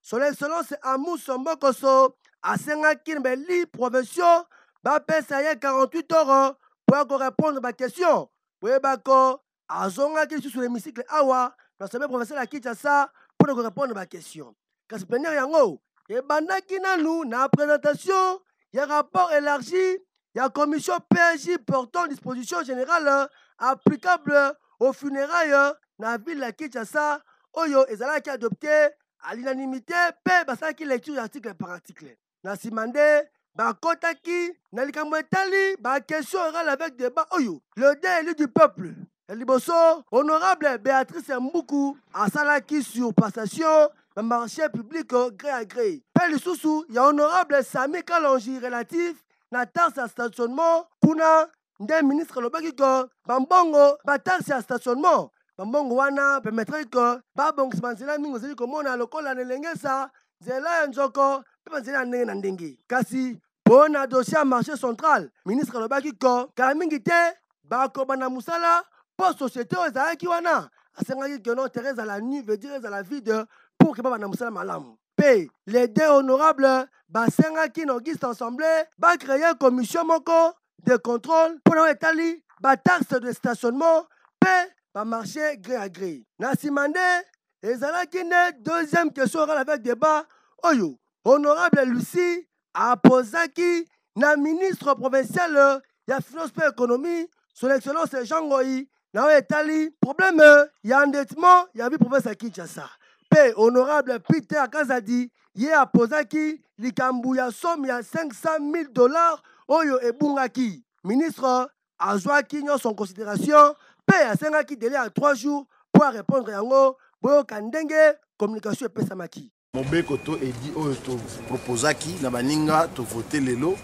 son excellence amuso mbokoso asengaki na bali profession bapesa ye 48 heures mpo ya korepondre baquestion boyebako azongaki lisusu na hémicycle awa na sommet professeur ya kinshasa mpo na korepondre baquestion kasi plenere yango ebandaki nanu na presentation ya rapport élargi ya commission PAJ portant disposition générale applicable au funérailles na ville ya Kinshasa oyo ezalaki adopte à l'unanimité mpe basalaki lecture ya article par article na nsima nde bakotaki na likambo etali bakestion orale avec débat oyo le dé élu du peuple ya liboso honorable béatrice mbuku asalaki sur passation na marché public gré à gré mpe lisusu ya honorable sami kalonji relatif na taxe ya stationnement kuna nde ministre alobaki ke bambongo bataxe ya stationnement bambongo wana permettraki ke babongisa banzela mingi ozali komona lokola na elengesa nzela ya nzoko mpe banzela ya ndenge na ndenge kasi mpo na dossier ya marché central ministre alobaki ke kala mingi te bakobanda mosala mpo société oyo ezalaki wana asengaki ke no terre ezala nu veut dire ezala vide pour ke babanda mosala malamu mpe les deux honorables basengaki na auguste assemblée bacreye commission moko de contrôle mpo na oyo etali bataxe de stationnement mpe bamarché gré à gré na nsima nde ezalaki nde deuxième question orale avec débat oyo honorable lucie aposaki na ministre provincial ya finance mpe économie son excellence jean ngoi na oyo etali probleme ya endettement ya vi province ya kinshasa mpe honorable peter kazadi ye apozaki likambo ya somme ya 500 000 dollars oyo ebungaki ministre azwaki nyonso en considération mpe asengaki dele ya 3 jours mpo arépondre yango boyoka ndenge communication epesamaki mobeko to edi oyo topropozaki na baninga tovote lelo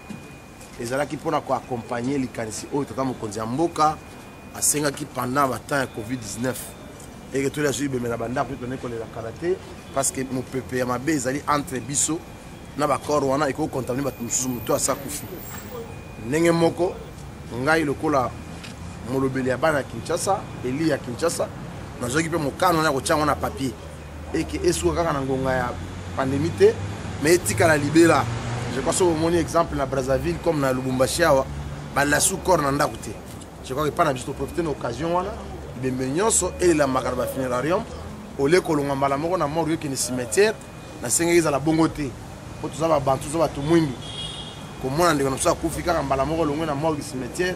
ezalaki mpo na koakompagne likanisi oyo tata mokonzi ya mboka asengaki pendant batemp ya covid-19 eke toli azwi bemela bandako tone kolela kala te parce que mopepe ya mabe ezali entre biso na bacor wana ekoki kocontamine bato mosusu moto asa kufi ndenge moko ngai lokola molobeli ya bana ya kinshasa eli ya kinshasa nazwaki mpe mokano wana ya kotya yango na papier et que esuka kaka na ngonga ya pandémie te mais etikala libela je crois soki omoni exemple na brazzaville comme na lubumbashi awa balasu corps na ndako te je crois epai na biso toprofite na occasion wana bembe nyonso elelamaka na bafunerarium olie kolonga mbala moko na morgue okende cimetière nasengeli ezala bongo te mpo toza babantu toza bato mwindu komona ndeko na biso akufi kaka mbala moko olongwe na morgue cimetière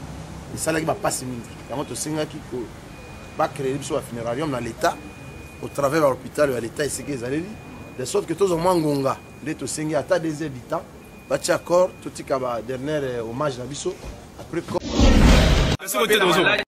esalaki bapasi mingi yango tosengaki ba créer biso ba funerarium na l'état au travers ba hôpital ya l'état esika ezaleli de sorte que tozwa mwa ngonga nde tosengi ata des heures du temps batia accord totika ba dernière euh, hommage na biso après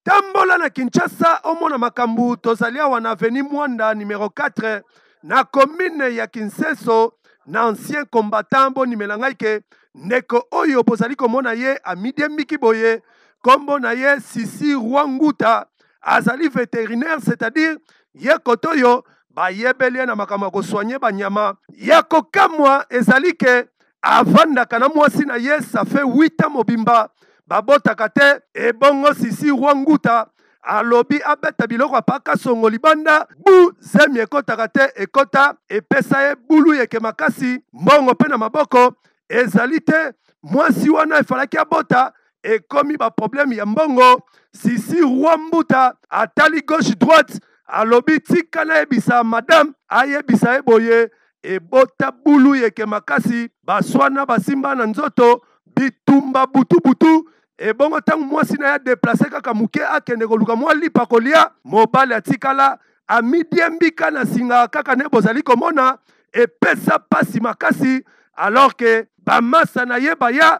tambola na kinshasa omona makambo tozali awa na aveni mwanda numero 4 na commune ya kinseso na ancien combattant bonimela ngai ke ndeko oyo bozali komona ye amidiembiki boye nkombo na ye Sisi Rwanguta, azali veterinaire c'est-à-dire ye koto oyo bayebeli ye na makambo ya kosoigne banyama. Ya kokamwa ezali ke avandaka na mwasi na ye ça fait 8 ans mobimba babotaka te, ebongo Sisi Rwanguta alobi abeta biloko apa kasongo libanda bu zemi ekotaka te ekota epesa ye bulu yeke makasi mbongo mpe na maboko ezali te mwasi wana efalaki abota ekomi ba problème ya mbongo sisi roi mbuta atali gauche droite alobi tika nayebisa madame ayebisa ye boye ebota bulu yeke makasi baswana basimba na nzoto bitumba butu butu ebongo ntango mwasi na ye adeplase kaka moke akende koluka mwa lipa kolia mobali atikala amidiembika na singa kaka nde bozali komona epesa mpasi makasi alors ke bamasa na ye baya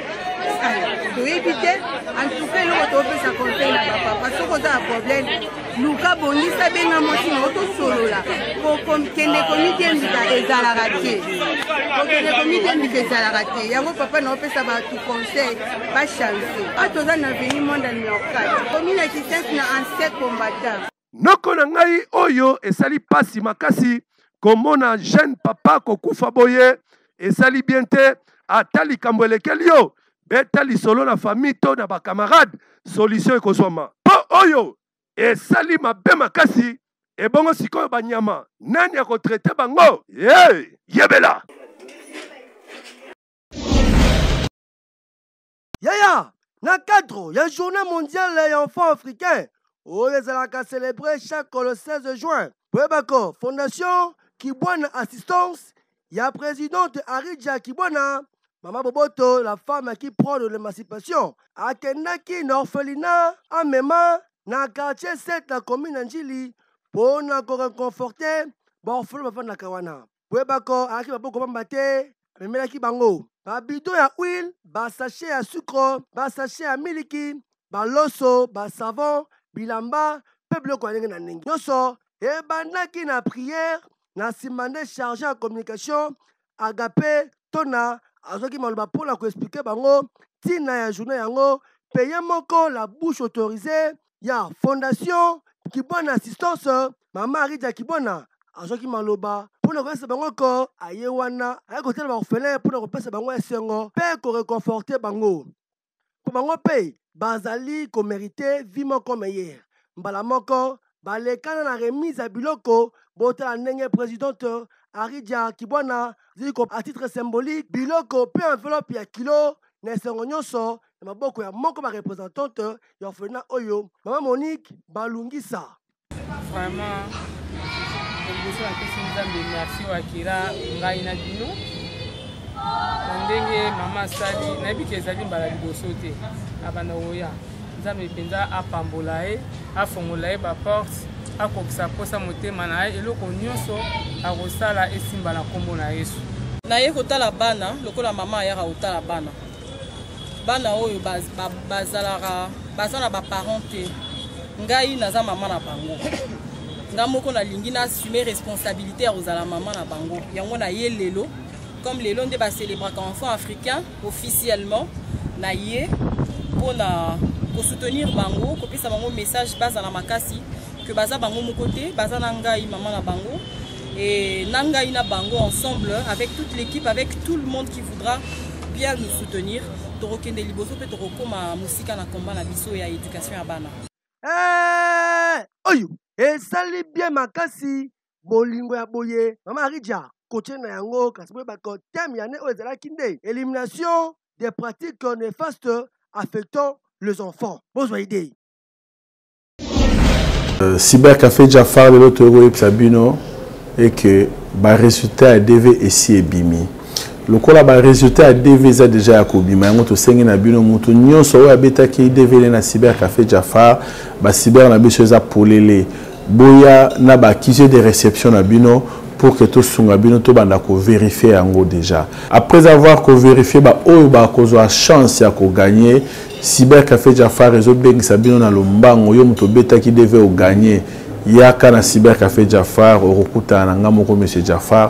toyebi te antuka eloko topesa conseil na bapapa soki oza na problème luka bongisa benga mwasi na otosolola kokende komitembisa ezalaka te kokende komitembisa ezalaka te yango papa na opesa bato conseil bachanse a toza na veni monde numero 4 komina kisense na ancien combattant Noko na ngai oyo esali pasi makasi komona jeune papa kokufa boye esali bien te ata likambo elekeli yo beta lisolo na famille to na bacamarade solution ekozwama mpo oyo esali mabe makasi ebongo sikoyo banyama nani akotraite bango hey, yebela Yaya, na cadre ya journée mondiale ya enfant africain oyo ezalaka celebre chaque le 16 juin, boyeba ko fondation Kibwana Assistance ya presidente Arija Kibwana Mama Boboto, la femme qui prend de l'émancipation, akendaki na orphelinat amema na quartier 7 na commune ya Njili mpo na koreconforte baorfelo bafandaka wana. boyebako alaki maboko bamba te amemelaki bango babido ya huile basashe ya sukro basashe ya miliki baloso basavon bilamba mpe biloko ya ndenge na ndenge nyonso ebandaki na priere na nsima nde charge ya communication agape tona azwaki maloba mpo na koexplike bango ntina ya journée yango mpe ye moko la bouche autorisée ya fondation kibwana assistance mama arija kibwana azwaki maloba mpo na koyesa bango ko aye wana aye kotala baorphelin mpo na kopesa bango esengo mpe koreconforte bango mpo bango mpe bazali komerite vi moko meyere mbala moko balekana na remise ya biloko botala ndenge presidente arija kibwana azali ko à titre symbolique biloko mpe enveloppe ya kilo na esengo nyonso na maboko ya moko ba representante ya orphelinat oyo mama monique balungisa vraiment liboso napesi nzambe merci oyo akela ngai na bino na ndenge mama asali nayebi ke ezali mbala liboso te abanda koya nzambe mpenza apambola ye afongola ye baporte akokisa mposa motema na ye eloko nyonso akosala esimba na nkombo na yesu naye kotala bana lokola mama ayaka kotala bana bana oyo bazalaka baza na baparent te ngai naza mama na bango nga moko nalingi naassume responsabilité ya kozala mama na bango yango naye lelo comme lelo nde bacelebraka enfant africain officiellement na ye mpo na kosoutenir bango kopesa bango message bazala makasi ke baza bango moko te baza na ngai mama na bango Et Nanga Ina Bango ensemble, avec toute l'équipe, avec tout le monde qui voudra bien nous soutenir. Torokende Liboso, pe Torokoma Musika na combat na biso ya éducation ya bana. Hey, eh, oyo esali bien makasi bolingo ya boye mama arija kotie na yango kasi boyeba ko teme ya ne oyo ezalaki nde élimination des pratiques néfastes affectant les enfants bozwa idée Euh, cyber café jafar lelo toyei koyebisa bino eke baresultat ya dv esi ebimi lokola baresultat ya dv eza deja ya kobima yango tosengi na bino motu nyonso oyo abetaki dv ne na cyber café jafar bacyber na biso eza polele boya na baaccuse de réception na bino pour que tosunga bino tobanda koverifie yango deja après avoir koverifie baoyo bakozwa chance ya koganye Cyber Cafe Jafar ezo bengisa bino na lombango yo moto obetaki DV o gagner yaka na Cyber Cafe Jafar okokutana na nga moko monsieur Jafar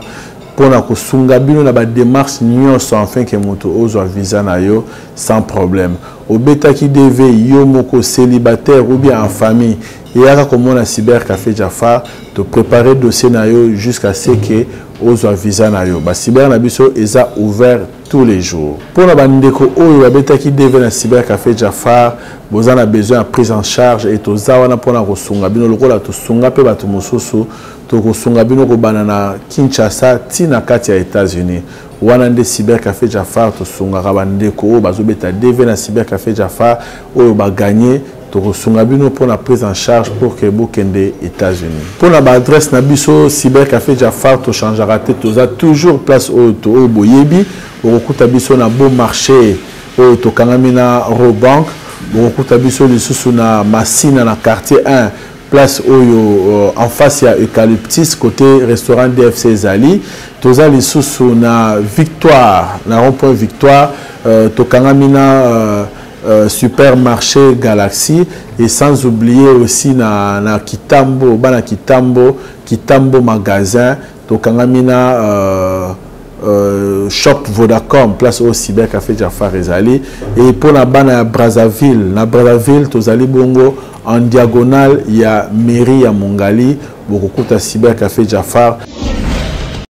mpo na kosunga bino na bademarche nyonso enfin ke moto ozwa visa na yo sans problème obetaki dv yo moko célibataire ou bien en famille eyaka komona cyber café jafar toprépare dossier na yo jusqu'à ce ke ozwa visa na yo bacyber na biso eza ouvert tous les jours mpo na bandeko oyo babetaki dv na cyber café jafar boza na besoin ya prise en charge e toza wana mpo na kosunga bino lokola tosunga mpe bato mosusu tokosunga bino kobanda na kinshasa ti na kati ya états-unis wana nde cyber café jafar tosungaka bandeko oyo bazobeta dv na cyber café jafar oyo baganye tokosunga bino mpo na prise en charge pour que bokende états-unis mpo na baadresse na biso cyber café jafar tochangeaka te toza toujours place oyo oyo boyebi okokuta biso na beau marché oyo tokangami na robank bokokuta biso lisusu na masina na quartier 1 place oyo euh, en face ya eucalyptus côté restaurant dfc ezali toza lisusu na victoire na rond point victoire euh, tokangami na euh, Euh, supermarché Galaxy et sans oublier aussi na, na Kitambo, bana Kitambo, Kitambo magasin, tokangami na euh, euh, shop Vodacom, place au cyber café Jafar Ezali et pour la bana à Brazzaville, na Brazzaville tozali bongo en diagonale il y a mairie à Mongali, bokokuta cyber café Jafar.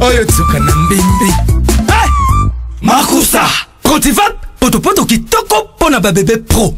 oyo tsoka na mbembe hey! makusa cotivat potopoto kitoko mpo na babebe pro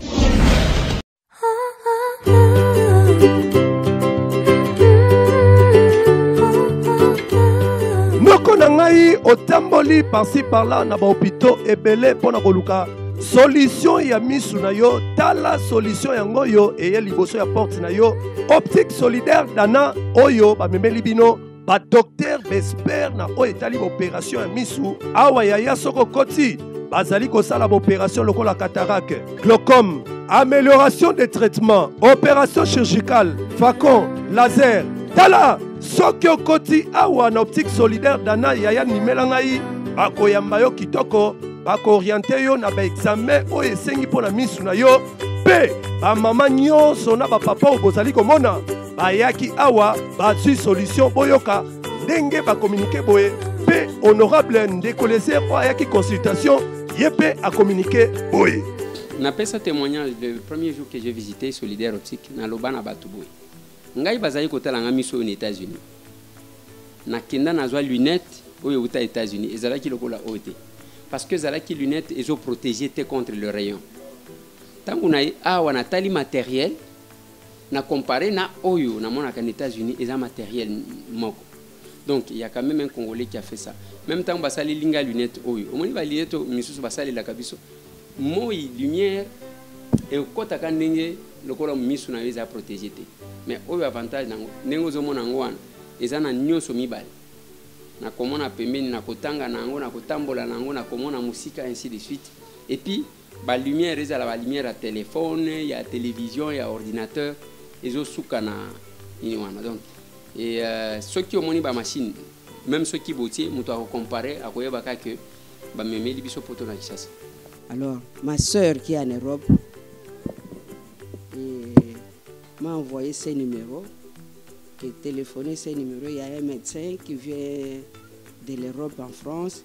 noko na ngai otamboli parci parla na bahopitau ebele mpo na koluka solution ya misu na yo tala solution yango oyo eye liboso ya porte na yo optique solidaire dana oyo bamemeli bino badoktere baespere na oyo etali baoperatio ya misu awa yaya soko koti bazali kosala baoperatio lokola catarake glaucome amélioration des traitements opération chirurgicale facon laser tala soki okoti awa na optique solidaire dana yaya nimela ngai bakoyamba yo kitoko bakooriente yo na baexame oyo esengi mpo na misu na yo mpe bamama nyonso na bapapa oyo bozali komona bayaki awa bazwi solution boyoka ndenge bakominike boye mpe honorable ndeko leser oyo ayaki consultation ye mpe akominike boye napesa témoignage le premier jour que j'ai visité solidaire optique naloba na bato boye ngai bazali kotala ngai miso oyo na états-unis nakenda nazwa lunette oyo euta états-unis ezalaki lokola oyo te parce que ezalaki lunette ezoprotege te contre le rayon ntango na ye awa natali matériel na compare na oyo namonaka na états-unis eza matériel moko donc il y a quand même un congolais qui a fait ça même ntango basaleli ngai lunette oyo omoni balinete oyo misusu basalelaka biso moi lumière ekotaka ndenge lokola misu na yo eza protégé te mais oyo avantage nango ndenge ozomona yango wana eza na nyonso mibale nakomona pembeni nakotanga na yango nakotambola na yango nakomona mosika ainsi de suite epuis Ba lumière ezala ba lumière ya telephone, ya television, ya ordinateur ezosuka na nini wana donc et euh, soki omoni ba machine même soki botie moto akocompare akoyeba kaka ke bamemeli biso poto na kisasa alors ma sœur qui est en europe m'a envoyé ses numéros qui est téléphoné ses numéros il y a un médecin qui vient de l'europe en france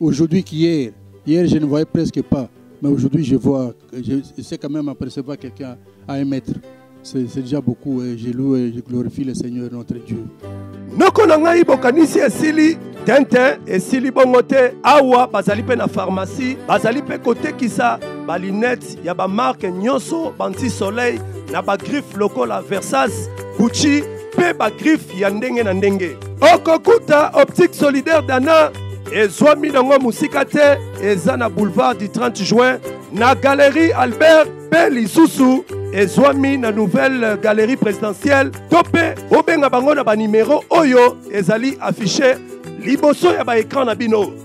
Aujourd'hui qu'hier, hier je ne voyais presque pas, mais aujourd'hui je vois, je, je sais quand même apercevoir quelqu'un à un mètre. C'est déjà beaucoup et je loue et je glorifie le Seigneur notre Dieu. noko na ngai bokanisi esili tenten esili bongo te awa bazali mpe na farmasi bazali mpe kotekisa balinete ya bamarke nyonso banti soleil na bagriffe lokola versas gucci mpe bagriffe ya ndenge na ndenge. Okokuta Optique Solidaire Dana ezwami nango mosika te, eza na boulevard du 30 juin na galerie Albert mpe lisusu ezwami na nouvelle galerie présidentielle to mpe obenga bango na banimero oyo ezali affiche liboso ya baekran na bino.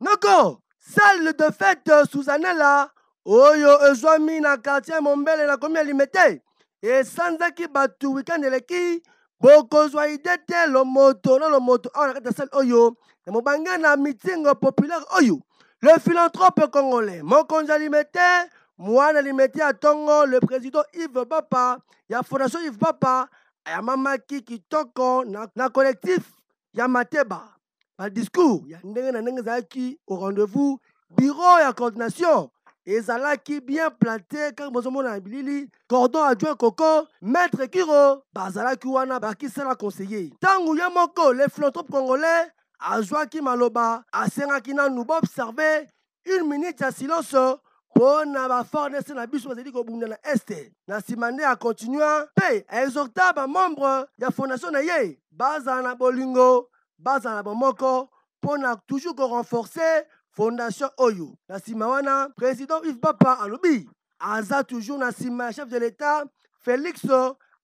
noko salle de fete susanela oyo ezwami na quartier mombele na komi ya limete esanzaki bato weekend eleki bokozwa ide te lomoto na lomoto awa na kati ya salle oyo na mobange na meeting populaire oyo le philanthrope congolais mokonzi ya limete mwana limete ya ntongo le président yves bapa ya fondation yves bapa ayamamaki kitoko na, na collectif ya mateba badiscours ya ndenge na ndenge ezalaki au rendez-vous bureau ya coordination ezalaki bien plante kaka bozomona na bilili cordon adjoint koko maître kiro bazalaki wana bakisala conseiller ntango ye moko le philanthrope congolais azwaki maloba asengaki nanu baobserve une minute ya silence mpo na bafornes na biso bazali kobunda na este na nsima nde akontinua mpe aexhorta bamembre ya fondation na ye bazala na bolingo bazala na bomoko mpo na toujours korenforce fondation oyo na nsima wana president ive papa alobi aza toujours na nsima ya chef de l'etat félix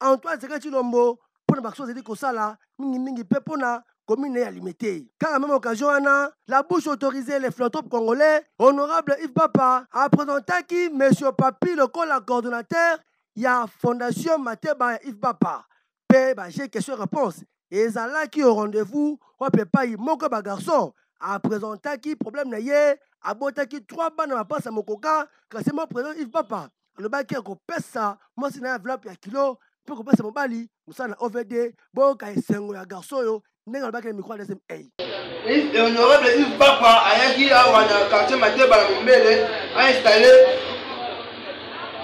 antoine zeka cilombo mpo na baction azali kosala mingimingi mpe mpo na commune ya limete kaka meme occasion wana la bouche autorisée les philanthropes congolais honorable yves papa apresentaki monsieur papi lokola coordonnateur ya fondation mateba ya yves papa mpe ba jeux question réponse ezalaki au rendez-vous wapi epai moko ya bagarçon apresentaki problème na ye abotaki trois bana bapasi ya mokoka kasi mo président ive papa alobaki akopesa mwasi na ye enveloppe ya kilo mpe kopesa mobali mosala na ovd boyoka esengo ya garçon oyo ndenge alobaki na micro ya dsm ei honorable ive papa ayaki awa na quartier mateba na mombele ainstalle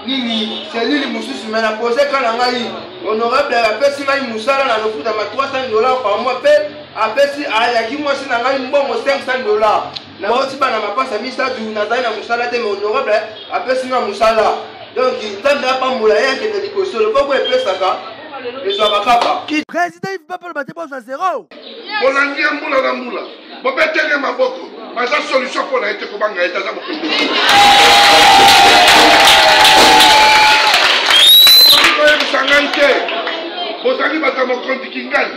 nini selile mosusu me na pose ka na ngai honorable apesi ngai mosala na lofutama 300 dollar par mois mpe apesi ayaki mwasi na ngai mbongo 500 dollar naboti bana mapasa misato nazali na mosala te mais honorable apesi nga mosala donc nzambe apambola ye akende liboso loboko epesaka ezwaka kaka président ive papa loba te bozwa zero bolangi ya mbula na mbula bobeteli ye maboko baza solution mpo na ye te kobanga ye te aza mokonzi koyebisa ngai te bozali bato ya mokonzi kingani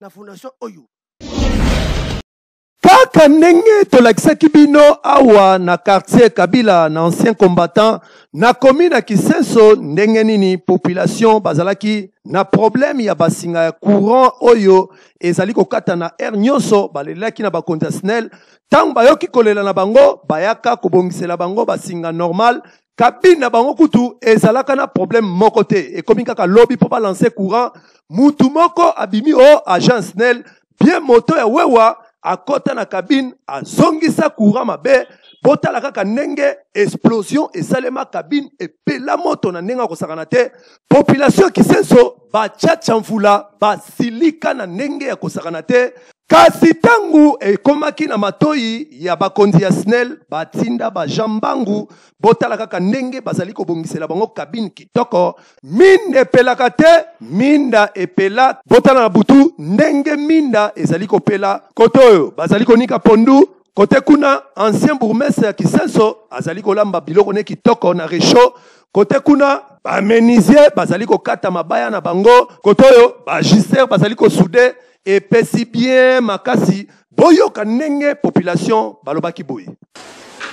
na fondation oyo kaka ndenge tolakisaki bino awa na quartier kabila na ancien combattant nakomi na kisenso ndenge nini population bazalaki na problème ya basinga ya courant oyo ezali kokata na aire nyonso balelaki na bakonzi ya snel ntango bayoki kolela na bango bayaka kobongisela bango basinga normal kabine na bango kutu ezalaka na problème moko te ekomi kaka lobi mpo balanse courant mutu moko abimi o oh, agence nel bien moto ya wewa akota na kabine azongisa courant mabe botala kaka ndenge explosion esalema kabine epela moto na ndenge akosakana te Population ya Kisenso ba chacha mvula basilika na ndenge ya kosakana te kasi ntango ekomaki na matoi ya bakonzi ya snel batinda bajean mbangu botala kaka ndenge bazali kobongisela bango kabine kitoko minda epelaka te minda epela botala na butu ndenge minda ezali kopela kote oyo bazali konika pondu kote kuna ancien bourgmestre ya kisenso azali kolamba biloko ne kitoko na rechaud kote kuna bamenisier bazali kokata mabaya na bango kote oyo bagister bazali kosude epesi bien makasi boyoka ndenge population balobaki boye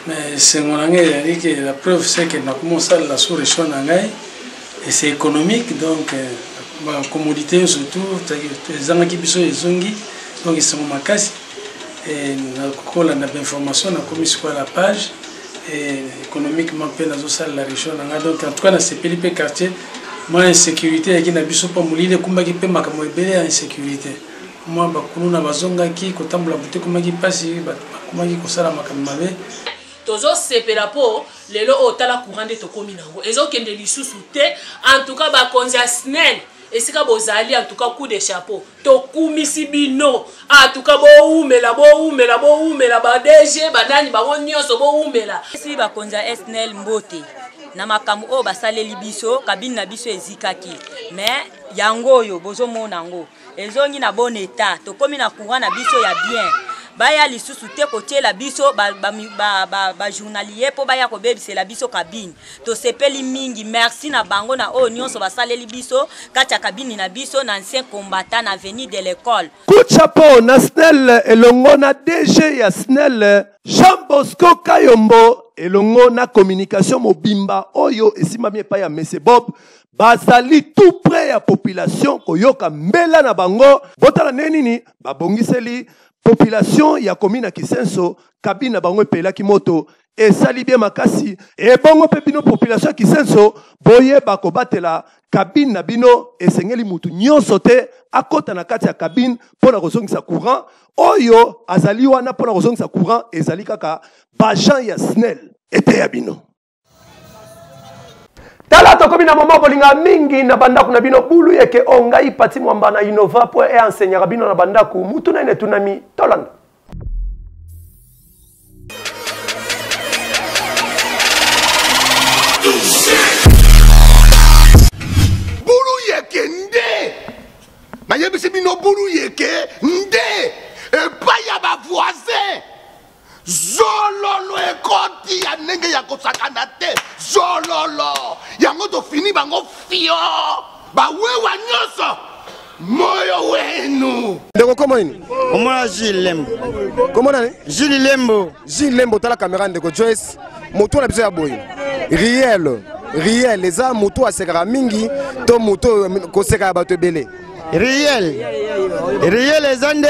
mais esengo na ngai ezali ke la preuve se ke nakoma osalela sous région na ngai et c'est économique donc euh, bacommodité nyonso tout ezangaki biso ezongi donc esengo makasi kolanda bainformation nakomi sikoya na page économiquement mpe nazosalela region na ngai donc en tout cas nasepeli mpe quartier mwa insécurité eyaki na biso mpo molili ekumbaki mpe makambo ebele ya insécurité mwa bakuluna bazongaki kotambola butu ekomaki mpasi bakomaki kosala makambo mabe tozosepela mpo lelo oyo tala courant nde tokómi na yango ezokende lisusu te en tout cas bakonzi ya snel esika bozali en tout cas coup de chapeau tokumisi bino atuka bowumela bowumela bowumela badg banani bango nyonso bowumela si bakonzi ya snl mbote na makambo oyo basaleli biso kabine na biso ezikaki me yango oyo bozomona yango ezongi na bon etat tokomi na courant na biso ya bien baya lisusu te kotyela biso bajournalier ba, ba, ba mpo baya kobebisela biso kabine tosepeli mingi merci na bango na oyo nyonso basaleli biso kati ya kabini na biso na ancien combattant na avenue de l'école kuchapo na snel elongo na dg ya snel jean bosco kayombo elongo na communication mobimba oyo esimbami epai ya mese bob bazali tout près ya population koyoka mbela na bango botala ndenge nini babongiseli population ya komina kisenso kabine na bango epelaki moto esali bien makasi ebongo mpe bino population ya kisenso boyeba kobatela kabine na bino esengeli motu nyonso te akota na kati ya kabine mpo na kozongisa courant oyo azali wana mpo na kozongisa courant ezali kaka bajan ya snel eteya bino tala tokomi na moma bolinga mingi na bandako na bino bulu yeke o ngai pati mwamba na innova mpo eenseignaka bino na bandako mutuna ene etunami tolanda nayebisi bino bulu yeke nde epai ya bavoisin zololo ekoti ya ndenge ya kosakana te zololo yango tofini bango fio bawewa nyonso moyo wenu ndeko koma nini omona jules lembo koma nani jules lembo jules lembo tala kamera ndeko joyce moto na biso ya boye riel riel eza moto asekaka mingi to moto koseka ya bato ebele riel riel eza nde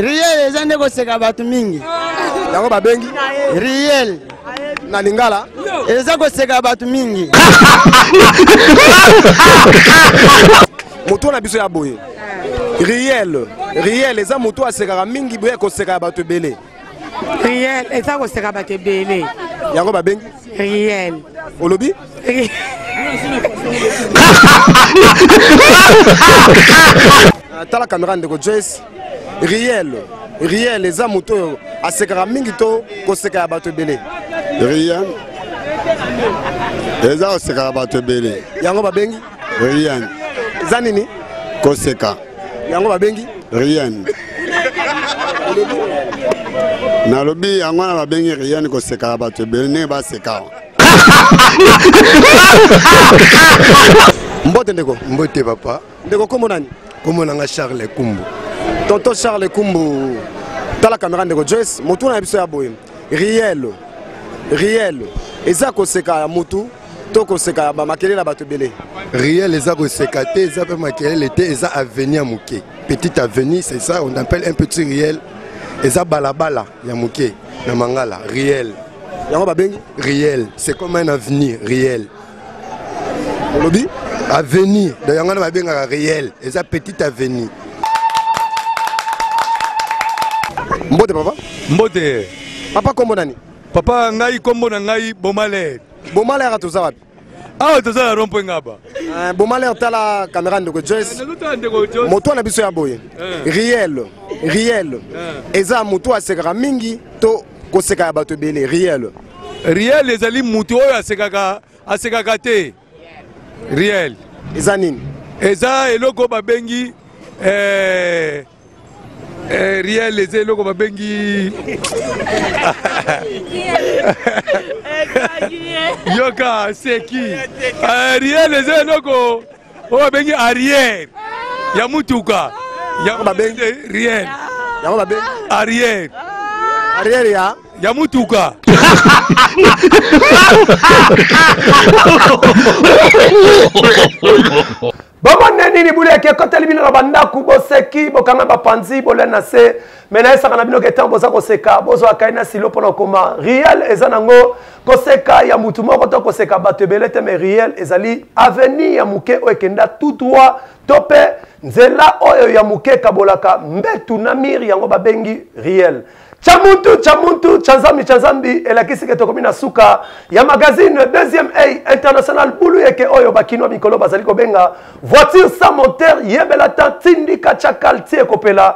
riel eza nde koseka bato mingi yango babengi riel na lingala eza koseka bato mingi moto na biso ya boye riel riel eza moto asekaka mingi boye koseka ya bato ebele riel eza koseka bato ebele yango babengi riel olobi tala kamera ndeko joyce riel riel eza moto oyo asekaka mingi to koseka ya bato ebele riel eza koseka ya bato ebele yango babengi riel eza nini koseka yango babengi riel nalobi yango wana babengi riel koseka ya bato ebele ndenge baseka mbote ndeko mbote papa ndeko kombo nani kombo nanga charles kumbu tonton charles kumbu tala kamera ndeko joyce motuna na biso ya boye rielo rielo eza koseka ya motu to koseka ya bamakelele ya bato ebele riel eza koseka te eza mpe makelele te eza aveni ya moke petite aveni c'est ça on appelle un petit riel eza balabala ya moke na mangala riel yango babengi riel c'est comme un avenir riel olobi avenir donc yango wana babengaka réel eza petite avenir mbote papa mbote papa nkombo nani papa ngai nkombo na ngai bomalere bomalere toza wapi awa toza na rompo ngaba eh, bomalere tala kamera ndeko joyce eh, moto na biso ya boye eh. riel riel eza moto asekaka mingi to koseka ya bato ebele riel riel ezali motu oyo asekaka asekaka te riel eza nini eza eloko babengi eh, eh, riel eza eloko babengi yoka seki eh, riel eza eloko oyo babengi arrière ya mutuka yango babengi riel yango babengi arrière arrière ya ya mutuka bomona nini bule yaki ekoteli bino na bandako boseki bokanga bapanzi bolia na se me nayesaka na bino ke ntango boza koseka bozwa kai na silo mpo na koma riel eza nango koseka ya motu moko to koseka bato ebele te me riel ezali avenir ya moke oyo ekenda tout droit to mpe nzela oyo ya moke ekabolaka mbetu na mire yango babengi riel cha muntu cha muntu cha nzambi cha nzambi elakisi ke tokomi na suka ya magazine deuxième a international bulu yeke oyo bakinois mikolo bazali kobenga voiture sans moteur yebela ta tindika cha kalti ekopela